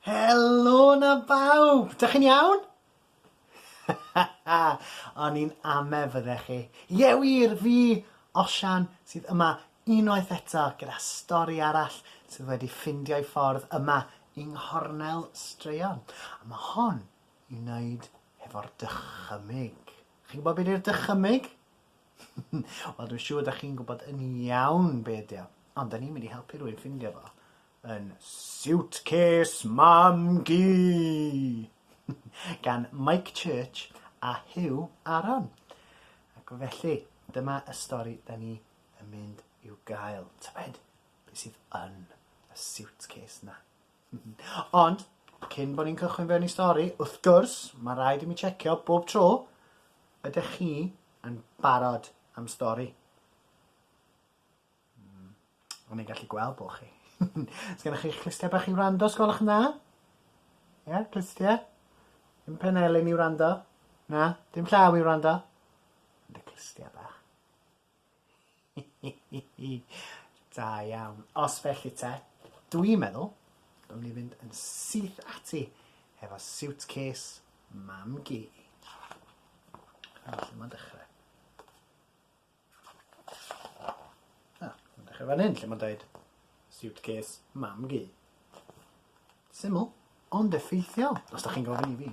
Helo na bawb! Dych chi'n iawn? O'n i'n ame fyddech chi. Ie wir, fi, Osian, sydd yma unwaith eto gyda stori arall sydd wedi ffindio ei ffordd yma yng nghornel straeon. A mae hon i wneud hefo'r dychymyg. Chi'n gwybod beth yw'r dychymyg? Wel dwi'n siŵr dach chi'n gwybod yn iawn be ydi o, ond da ni'n mynd i helpu rwy'n ffindio fo yn Suitcase Mam-gu! gan Mike Church a Huw Aron. Ac felly, dyma y stori da ni yn mynd i'w gael. Tybed beth sydd yn y suitcase na? Ond, cyn bo' ni'n cychwyn fewn i stori, wrth gwrs, ma' raid i mi checio bob tro, ydech chi yn barod am stori? Mm, o'n i'n gallu gweld bo' chi. Sgennoch chi'ch clustia bach i wrando, os gwelwch yn dda? Ie, clustia? Dim pen elin i wrando? Na? Dim llaw i wrando? Ond y clustia bach. Da iawn. Os felly te, dwi'n meddwl bod ni fynd yn syth ati hefo siwtcês mam gi. Felly mae'n dechrau. Ah, mae'n dechrau fan hyn lle mae'n dweud siwtcês mam gi. Syml, ond effeithiol, os da chi'n gofyn i fi.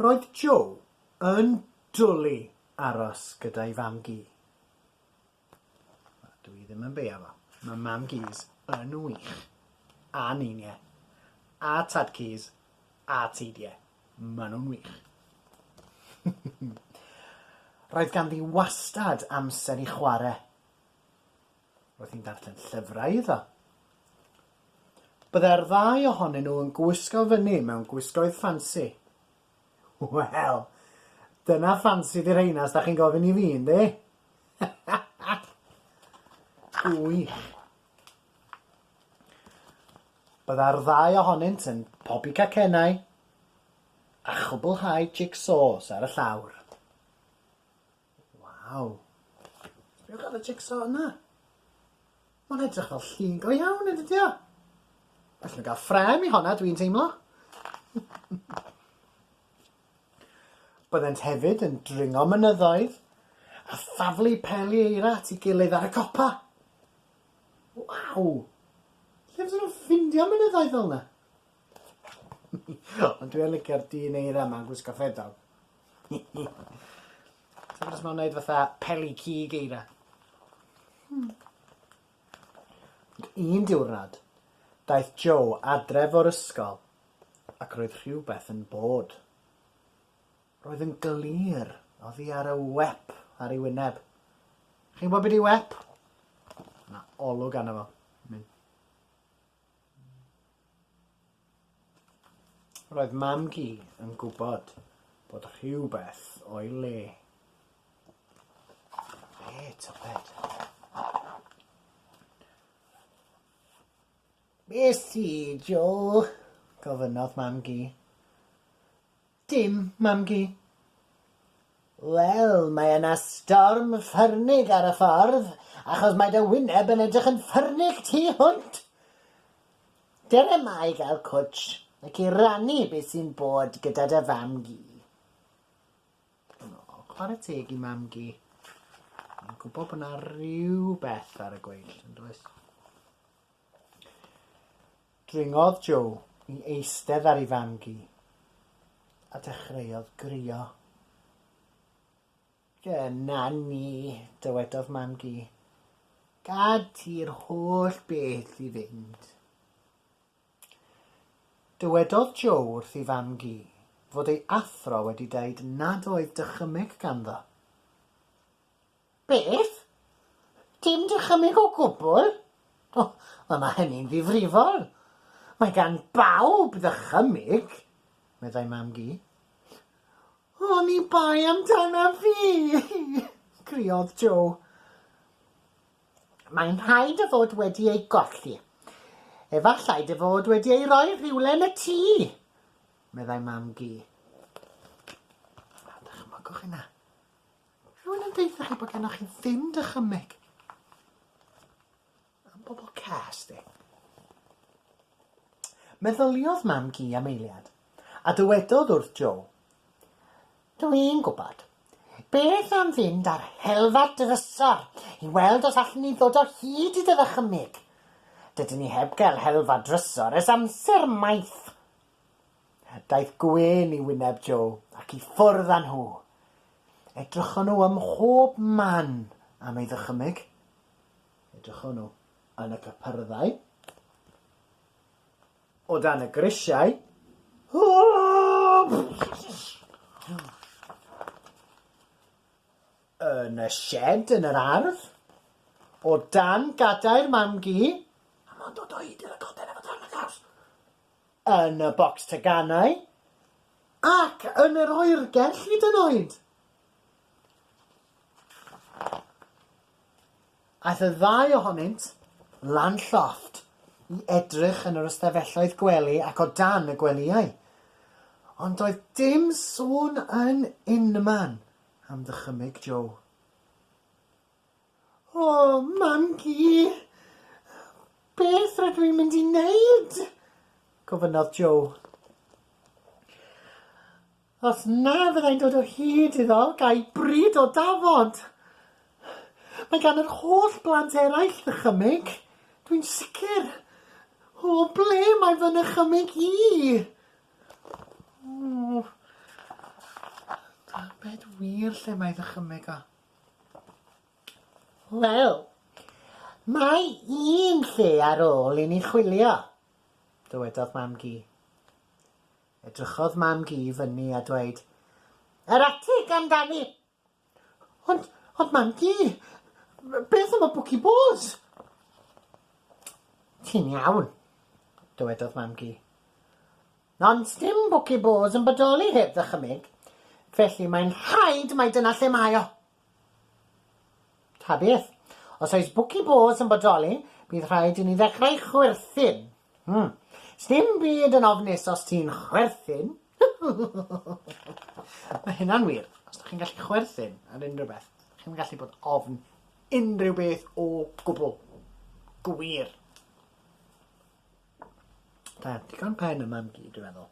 Roedd Jo yn dwli aros gyda'i fam-gu. Wel, dw i ddim yn beio fo. Mae mam-gus yn wych. A ninie. A tad-cus. A teidie. Maen nhw'n wych. Roedd ganddi wastad amser i chwarae. Roedd hi'n darllen llyfrau iddo. Byddai'r ddau ohonyn nhw yn gwisgo fyny mewn gwisgoedd ffansi. Wel, dyna ffansi di rheina os da chi'n gofyn i fi, yndi? Gwych. Byddai'r ddau ohonynt yn pobi cacennau a chwblhau jigsaws ar y llawr. Waw. Be' o' gan y jig-so yna? Ma'n edrych fel llun go iawn yn dydi o? Allwn ga'l ffrâm i honna dwi'n teimlo. Byddent hefyd yn dringo mynyddoedd a thaflu peli eira at ei gilydd ar y copa. Waw! Lle fydden nhw'n ffindio mynyddoedd fel 'na? Ond dwi yn licio'r dyn eira ma'n gwisgo ffedog. Ti'n gwbo os ma'n neud fatha peli cig eira? Hmm. Un diwrnod, daeth Joe adref o'r ysgol ac roedd rhywbeth yn bod. Roedd yn glir oddi ar y wep ar ei wyneb. Chi'n gwybod be' 'di wep? Ma' 'na olwg arno fo. Mae'n Roedd Mam-gu yn gwybod bod rhywbeth o'i le. Be, tybed? Be sy, Joe? gofynnodd Mam-gu. Dim, Mam-gu. Wel, mae yna storm ffyrnig ar y ffordd, achos mae dy wyneb yn edrych yn ffyrnig tu hwnt! Ger yma i gael cwtsh ac i rannu beth sy'n bod gyda dy fam-gu. O, chwarae teg i mam-gu. Mae'n gwybod bod yna rhywbeth ar y gweill, yn does? Dringodd Joe i eistedd ar ei fam-gu a dechreuodd grio. Dyna ni, dywedodd mam-gu. Gad ti'r holl beth i fynd. Dywedodd Joe wrth ei fam-gu fod ei athro wedi deud nad oedd dychymyg ganddo. Beth? Dim dychymyg o gwbl? O, wel mae hynny'n ddifrifol. Mae gan bawb ddychymyg, meddai Mam-gu. Oni bai amdanaf fi! criodd Jo. Mae'n rhaid dy fod wedi ei golli. Efallai dy fod wedi ei roi rhywle yn y tŷ, meddai Mam-gu. Wel, dychmygwch hynna. Rhywun yn deutha chi bod gennoch chi ddim dychymyg? Am bobl cas de. Meddyliodd Mam-gu am eiliad, a dywedodd wrth Jo, Dw i'n gwybod. Beth am fynd ar helfa drysor i weld os allwn ni ddod o hyd i dy ddychymyg? Dydyn ni heb gael helfa drysor ers amser maith. Daeth gwên i wyneb Jo ac i ffwrdd â nhw. Edrychon nhw ym mhob man am ei ddychymyg. Edrychon nhw yn y cypyrddau, o dan y grisiau, yn y sied yn yr ardd, o dan gadair mam-gu, a mond o doed yn y coden efo darn o gars. yn y bocs teganau ac yn yr oergell hyd yn oed! Aeth y ddau ohonynt lan llofft i edrych yn yr ystafelloedd gwely ac o dan y gwelyau. Ond doedd dim sôn yn unman am ddychymyg Joe. O, Mam-gu! Beth rydw i'n mynd i wneud? gofynnodd Joe. Os na fyddai'n dod o hyd iddo, gai bryd o dafod. Mae gan yr holl blant eraill ddychymyg, dwi'n sicr. O, ble mae fy nychymyg i? O, tybed wir lle mae ddychymyg o. Wel, mae un lle ar ôl i ni chwilio, dywedodd Mam-gu. Edrychodd Mam-gu i fyny a dweud, Yr atig amdani! Ond, ond Mam-gu, beth am y bwci bôs? Ti'n iawn, dywedodd Mam-gu. Ond sdim Bwci Bôs yn bodoli heb ddychymyg, felly mae'n rhaid mai dyna lle mae o. Ta beth. Os oes Bwci Bôs yn bodoli, bydd rhaid i ni ddechrau chwerthin. Hmm. Sdim byd yn ofnus os ti'n chwerthin. Mae hynna'n wir. Os ydych chi'n gallu chwerthin ar unrhyw beth, ydych chi'n gallu bod ofn unrhyw beth o gwbl. Gwir. Da, digon pen y mam-gu, dwi'n meddwl.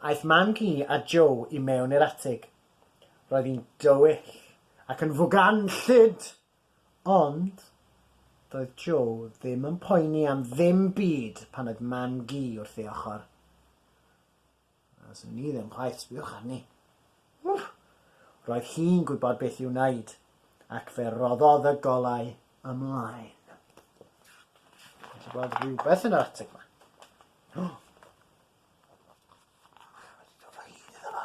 Aeth mam-gu a Joe i mewn i'r atig. Roedd hi'n dywyll ac yn fuganllyd! Ond, doedd Joe ddim yn poeni am ddim byd pan oedd mam-gu wrth ei ochr. Does gen i ddim chwaith, sbïwch arni. Wff! Roedd hi'n gwybod beth i'w wneud, ac fe roddodd y golau ymlaen. Mae eisiau gweld rhywbeth yn yr atig yma. Oh! Mae wedi dod o hyd iddo fo.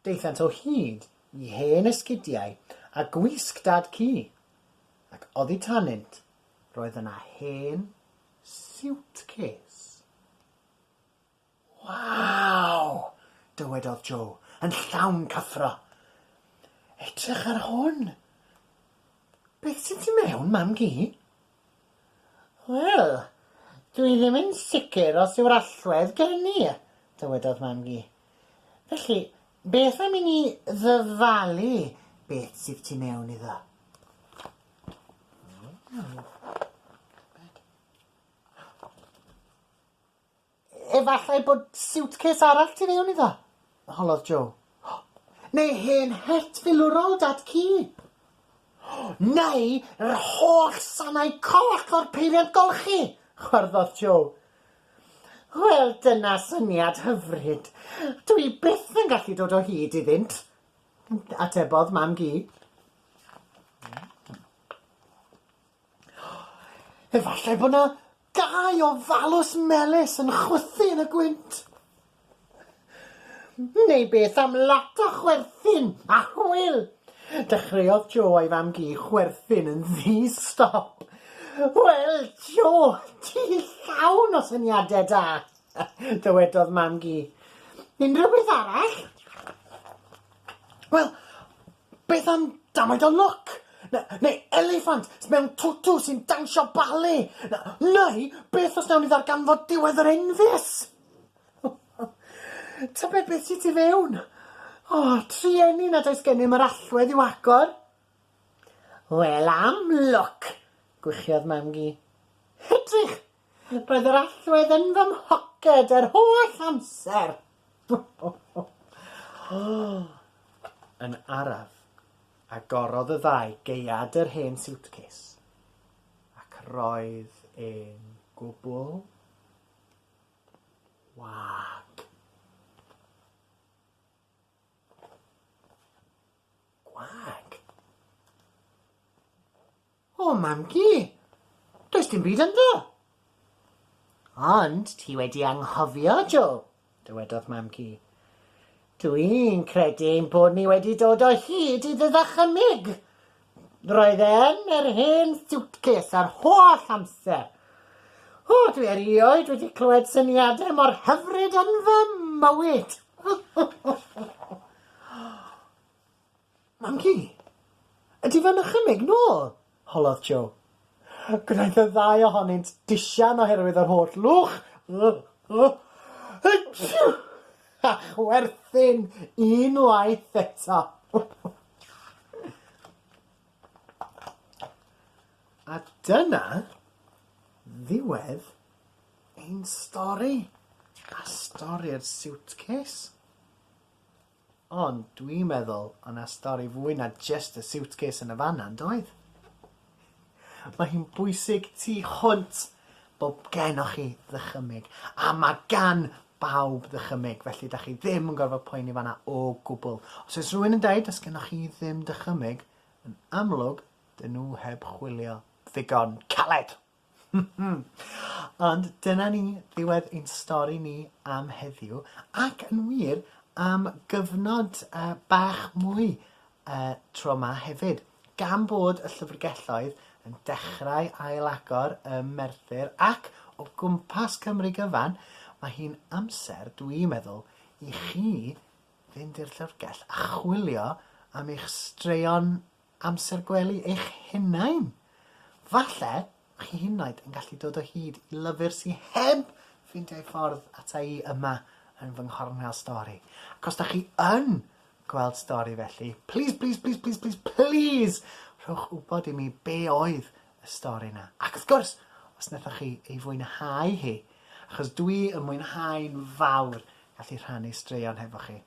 Daethant o hyd i hen esgidiau a gwisg dad ci, ac oddi tanynt, roedd yna hen siwtcês. Waw! dywedodd Jo, yn llawn cyffro. Edrych ar hwn! Beth sy'n tu mewn, mam-gu? Wel, dwi ddim yn sicr os yw'r allwedd gen i, dywedodd Mam-gu. Felly, beth am i ni ddyfalu beth sydd tu mewn iddo? Efallai bod siwtcês arall tu fewn iddo, holodd Jo. Neu hen het filwrol Dad Ci. Neu yr holl sanau coch o'r peiriant golchi, chwarddodd Jo. Wel, dyna syniad hyfryd. Dw i byth yn gallu dod o hyd iddynt, atebodd Mam Gi. Efallai bod 'na Dau ofalus melys yn chwythu yn y gwynt. Neu beth am lot o chwerthin a hwyl? Dechreuodd Jo a'i fam-gu chwerthin yn ddi-stop. Wel, Jo, ti llawn o syniadau da! dywedodd mam-gu. Unrhyw beth arall? Wel, Beth am damaid o lwc? Na, neu eliffant mewn twtw sy'n dawnsio bale? Na, neu beth os nawn ni ddarganfod diwedd yr enfys? Tybed beth sydd tu fewn? O, trueni nad oes gennym yr allwedd i'w agor. Wel, am lwc! gwichiodd mam-gu. Edrych! Roedd yr allwedd yn fy mhoced yr holl amser. Yn araf, agorodd y ddau geuad yr hen siwtcês, ac roedd e'n gwbl wag. Gwag? O, Mam-gu, does dim byd ynddo! Ond ti wedi anghofio, Jo, dywedodd Mam-gu. Dw i'n credu ein bod ni wedi dod o hyd i dy ddychymyg. Roedd e yn yr hen siwtcês yr holl amser. O, dwi erioed wedi clywed syniadau mor hyfryd yn fy mywyd! Mam ci! Ydy fe'n nychymyg nôl? holodd Jo. Gwnaeth y ddau ohonynt disian oherwydd yr holl lwch. Hwtsiw! A chwerthin unwaith eto. A dyna ddiwedd ein stori, a stori'r siwtcês. Ond dwi'n meddwl o' 'na stori fwy na jyst y siwtcês yn y fan 'na, yn doedd? Mae hi'n bwysig tu hwnt bo' gennoch chi ddychymyg, a ma' gan bawb ddychymyg, felly 'dach chi ddim yn gorfod poeni fan 'na o gwbl. Os oes rhywun yn deud 'does gennoch chi ddim dychymyg, yn amlwg 'dyn nhw heb chwilio ddigon caled! Ond dyna ni, ddiwedd ein stori ni am heddiw, ac yn wir, am gyfnod uh, bach mwy uh, tro ma hefyd. Gan bod y llyfrgelloedd yn dechrau ailagor ym Merthyr ac o gwmpas Cymru gyfan, mae hi'n amser, dwi'n meddwl, i chi fynd i'r llyfrgell a chwilio am eich straeon Amser gwely eich hunain! Falle chi hyd yn gallu dod o hyd i lyfr sy heb ffeindio ei ffordd ata i yma yn fy nghornel stori. Ac os da chi yn gweld stori felly, please, please, please, please, please, please, rhowch wybod i mi be oedd y stori yna. Ac wrth gwrs, os nethoch chi ei fwynhau hi, achos dwi yn mwynhau'n fawr gallu rhannu straeon hefo chi.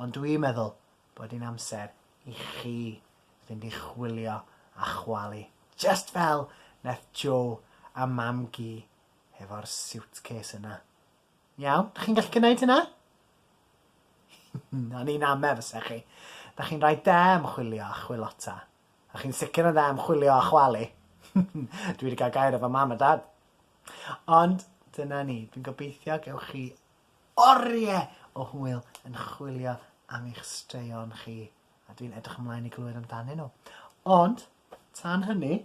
Ond dwi'n meddwl bod hi'n amser i chi fynd i chwilio a chwalu, just fel nath Joe a Mam-gu hefo'r suitcase yna. Iawn? Dych chi'n gallu gwneud hynna? O'n i'n ame fysa chi. Da chi'n rhaid da am chwilio a chwilota. A chi'n sicr yn dda am chwilio a chwalu. Dwi wedi cael gair efo mam a dad. Ond dyna ni. Dwi'n gobeithio gewch chi oriau o hwyl yn chwilio am eich straeon chi a dwi'n edrych ymlaen i glywed amdanyn nhw. Ond, tan hynny,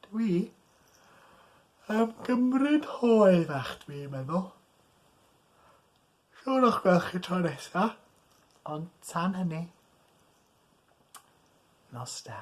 dw i am gymryd hoe fach dw i'n meddwl. Siwr o'ch gweld chi tro nesa, ond tan hynny, nos da.